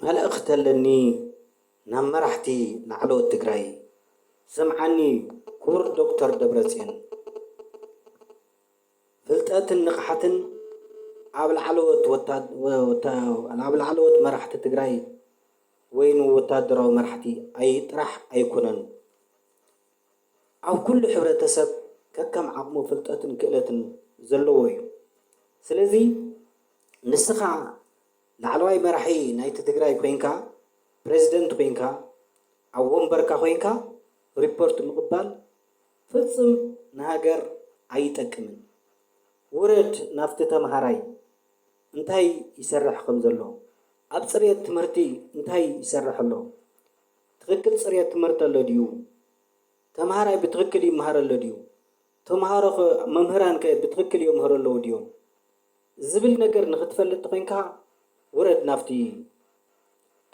መልእኽቲ ኣለኒ ናብ መራሕቲ ላዕለዎት ትግራይ ስምዓኒ ክቡር ዶክተር ደብረፅዮን ፍልጠትን ንቕሓትን ኣብ ላዕለዎት መራሕቲ ትግራይ ወይኑ ወታደራዊ መራሕቲ ጥራሕ ኣይኮነን ኣብ ኩሉ ሕብረተሰብ ከከም ዓቕሙ ፍልጠትን ክእለትን ዘለዎ እዩ። ስለዚ ንስኻ ላዕለዋይ መራሒ ናይቲ ትግራይ ኮይንካ፣ ፕረዚደንት ኮይንካ፣ ኣብ ወንበርካ ኮይንካ ሪፖርት ምቕባል ፍጽም ንሃገር ኣይጠቅምን። ውረድ ናብቲ ተምሃራይ እንታይ ይሰርሕ ከምዘሎ፣ ኣብ ጽሬት ትምህርቲ እንታይ ይሰርሕ ኣሎ፣ ትኽክል ፅርየት ትምህርቲ ኣሎ ድዩ? ተምሃራይ ብትኽክል ይምሃር ኣሎ ድዩ? ተምሃሮኸ መምህራንከ ብትኽክል የምህሩ ኣለዉ ድዮም? ዝብል ነገር ንኽትፈልጥ ተኾይንካ ውረድ ናብቲ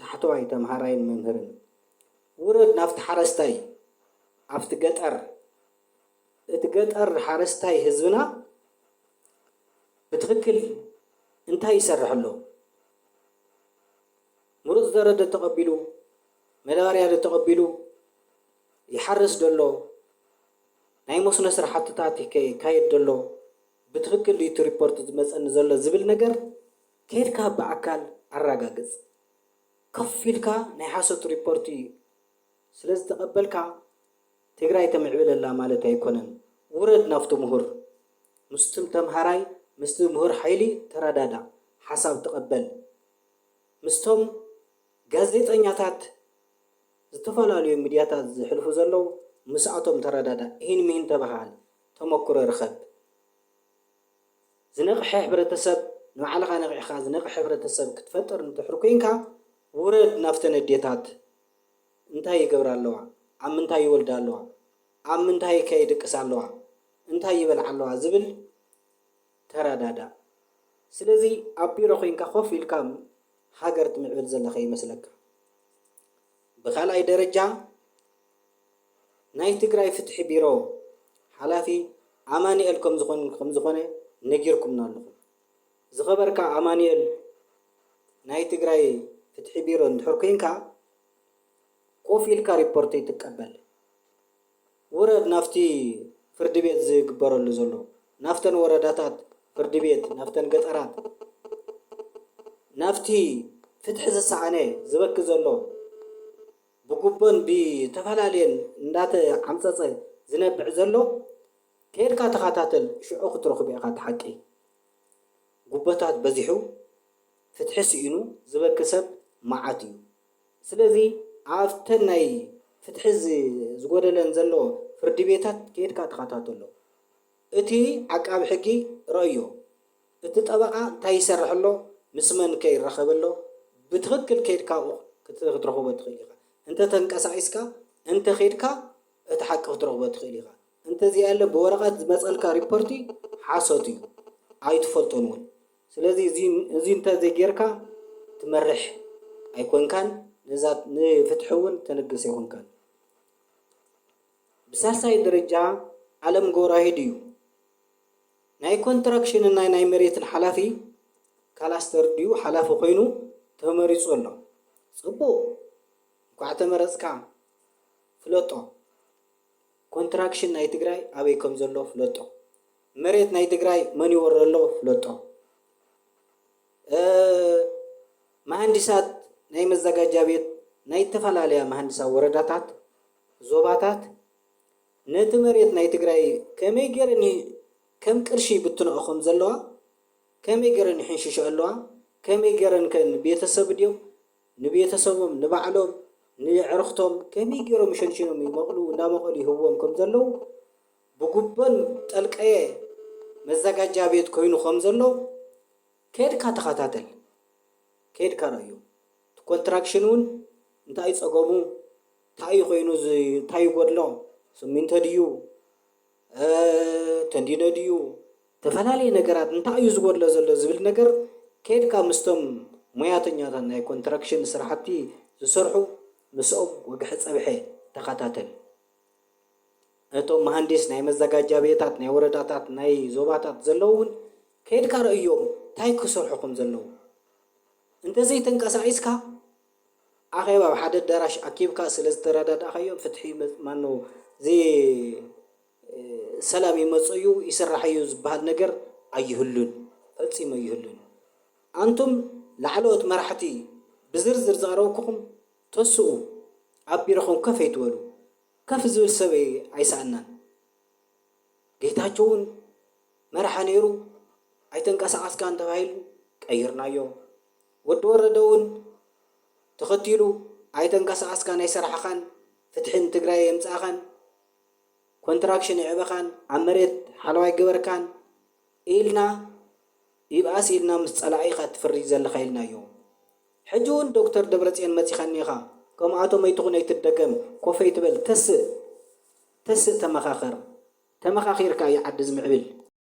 ታሕተዋይ ተምሃራይን መምህርን። ውረድ ናብቲ ሓረስታይ ኣብቲ ገጠር። እቲ ገጠር ሓረስታይ ህዝብና ብትኽክል እንታይ ይሰርሕ ኣሎ? ምሩጽ ዘረ ደተቐቢሉ መዳበርያ ደተቐቢሉ ይሓርስ ደሎ ናይ መስኖ ስራሕትታት ይካየድ ደሎ ብትኽክል ድዩ እቲ ሪፖርት ዝመጸኒ ዘሎ ዝብል ነገር ከድካ ብኣካል ኣራጋግጽ ከፍ ኢልካ ናይ ሓሶት ሪፖርት ስለ ዝተቐበልካ ትግራይ ተምዕብል ኣላ ማለት ኣይኮነን ውረድ ናብቲ ምሁር ምስቱም ተምሃራይ ምስቲ ምሁር ሓይሊ ተረዳዳእ ሓሳብ ተቐበል። ምስቶም ጋዜጠኛታት ዝተፈላለዩ ምድያታት ዝሕልፉ ዘለዉ ምስኣቶም ተረዳዳእ ኢሂን ምሂን ተበሃሃል ተመክሮ ርኸብ። ዝነቕሐ ሕብረተሰብ ንባዕልኻ ነቒሕኻ ዝነቕሐ ሕብረተሰብ ክትፈጥር እንድሕር ኮይንካ ውረድ ናብተን ኣዴታት እንታይ ይገብራ ኣለዋ ኣብ ምንታይ ይወልዳ ኣለዋ ኣብ ምንታይከ ይድቅሳ ኣለዋ እንታይ ይበልዓ ኣለዋ ዝብል ተረዳዳእ ስለዚ ኣብ ቢሮ ኮንካ ኮፍ ኢልካ ሃገር ትምዕብል ዘለካ ይመስለካ ብካልኣይ ደረጃ ናይ ትግራይ ፍትሒ ቢሮ ሓላፊ ኣማኒኤል ከምዝኮነ ነጊርኩምና ኣለኩም ዝከበርካ ኣማኒኤል ናይ ትግራይ ፍትሒ ቢሮ እንድሕር ኮንካ ኮፍ ኢልካ ሪፖርት ኣይትቀበል ውረድ ናብቲ ፍርዲ ቤት ዝግበረሉ ዘሎ ናብተን ወረዳታት ፍርዲ ቤት ናብተን ገጠራት ናብቲ ፍትሒ ዝሰኣነ ዝበኪ ዘሎ ብጉቦን ብተፈላለየን እንዳተዓምጸጸ ዝነብዕ ዘሎ ከይድካ ተኸታተል ሽዑ ክትረኽቦ ኢኻ እቲ ሓቂ ጉቦታት በዚሑ ፍትሒ ስኢኑ ዝበኪ ሰብ መዓት እዩ። ስለዚ ኣብተን ናይ ፍትሒ ዝጎደለን ዘሎ ፍርዲ ቤታት ከይድካ ተኸታተሎ። እቲ ዓቃቢ ሕጊ ረእዮ፣ እቲ ጠበቓ እንታይ ይሰርሕ ኣሎ፣ ምስ መንከ ይራኸብ ኣሎ፣ ብትኽክል ከይድካ ክትረኽቦ ትኽእል ኢኻ። እንተ ተንቀሳቒስካ፣ እንተ ከይድካ እቲ ሓቂ ክትረኽቦ ትኽእል ኢኻ። እንተ ዘይኣለ ብወረቐት ዝመጸልካ ሪፖርቲ ሓሶት እዩ። ኣይትፈልጦን እውን። ስለዚ እዚ እንተ ዘይጌርካ ትመርሕ ኣይኮንካን፣ ነዛ ንፍትሒ እውን ተልግስ ኣይኮንካን። ብሳልሳይ ደረጃ ኣለም ጎራሂድ እዩ። ናይ ኮንትራክሽንን ናይ ናይ መሬትን ሓላፊ ካላስተር ድዩ ሓላፊ ኮይኑ ተመሪጹ ኣሎ። ጽቡቕ እንኳዕ ተመረጽካ ፍለጦ ኮንትራክሽን ናይ ትግራይ ኣበይ ከምዘሎ ፍለጦ። መሬት ናይ ትግራይ መን ይወሮ ኣሎ ፍለጦ። መሃንዲሳት ናይ መዘጋጃ ቤት ናይ እተፈላለያ መሃንዲሳዊ ወረዳታት፣ ዞባታት፣ ነቲ መሬት ናይ ትግራይ ከመይ ገይረን ከም ቅርሺ ይብትንኦ ከም ዘለዋ፣ ከመይ ገይረን ይሕንሽሽኦ ኣለዋ፣ ከመይ ገይረን ከ ንቤተሰብ ድዮም ንቤተሰቦም ንባዕሎም ንዕርኽቶም ከመይ ገይሮም ሸንሺኖም ይመቕሉ እንዳመቐሉ ይህብዎም ከም ዘለዉ ብጉቦን ጠልቀየ መዘጋጃ ቤት ኮይኑ ከም ዘሎ ከድካ ተከታተል ከድካ ረኣዮ እቲ ኮንትራክሽን ውን እንታይ ዩ ጸገሙ ታይ ዩ ኮይኑ ታይ ይጎድሎ ስሚንቶ ድዩ ተንዲኖ ድዩ ዝተፈላለየ ነገራት እንታይ ዩ ዝጎድሎ ዘሎ ዝብል ነገር ከድካ ምስቶም ሞያተኛታት ናይ ኮንትራክሽን ስራሕቲ ዝሰርሑ ምስኦም ወግሐ ጸብሐ ተከታተል። ነቶም መሃንዲስ ናይ መዘጋጃ ቤታት ናይ ወረዳታት ናይ ዞባታት ዘለዉ ውን ከይድካ ረእዮም ታይ ክሰርሑ ከም ዘለዉ እንተዘይ ተንቀሳቂስካ ኣኼባ ኣብ ሓደ ኣዳራሽ ኣኪብካ ስለ ዝተረዳዳእካዮ ፍትሒ ማኖ ሰላም ይመጽእ እዩ ይስራሕ እዩ ዝበሃል ነገር ኣይህሉን ፈጺሙ ኣይህሉን ኣንቱም ላዕለዎት መራሕቲ ብዝርዝር ዝቀረብኩኹም ተስኡ ኣብ ቢሮኹም ከፍ ኣይትበሉ ከፍ ዝብል ሰብ ኣይሰኣናን ጌታቸው ውን መራሒ ነይሩ ኣይተንቀሳቀስካን ተባሂሉ ቀይርናዮ ወዲ ወረደ ውን ተኸቲሉ ኣይተንቀሳቀስካን ኣይሰራሕኻን ፍትሒ ንትግራይ ኣየምፃእኻን ኮንትራክሽን ኣየዕበኻን ኣብ መሬት ሓለዋ ኣይገበርካን ኢልና ይብኣስ ኢልና ምስ ጸላኢ ኢኻ ትፍርይ ዘለኻ ኢልናዮም ሕጂ ውን ዶክተር ደብረጽዮን መጺኻ እኒኻ ከምኣቶም ኣይትኹን ኣይትደገም ኮፍ ኣይትበል ተስእ ተስእ ተመኻኸር ተመኻኺርካ እዩ ዓዲ ዝምዕብል።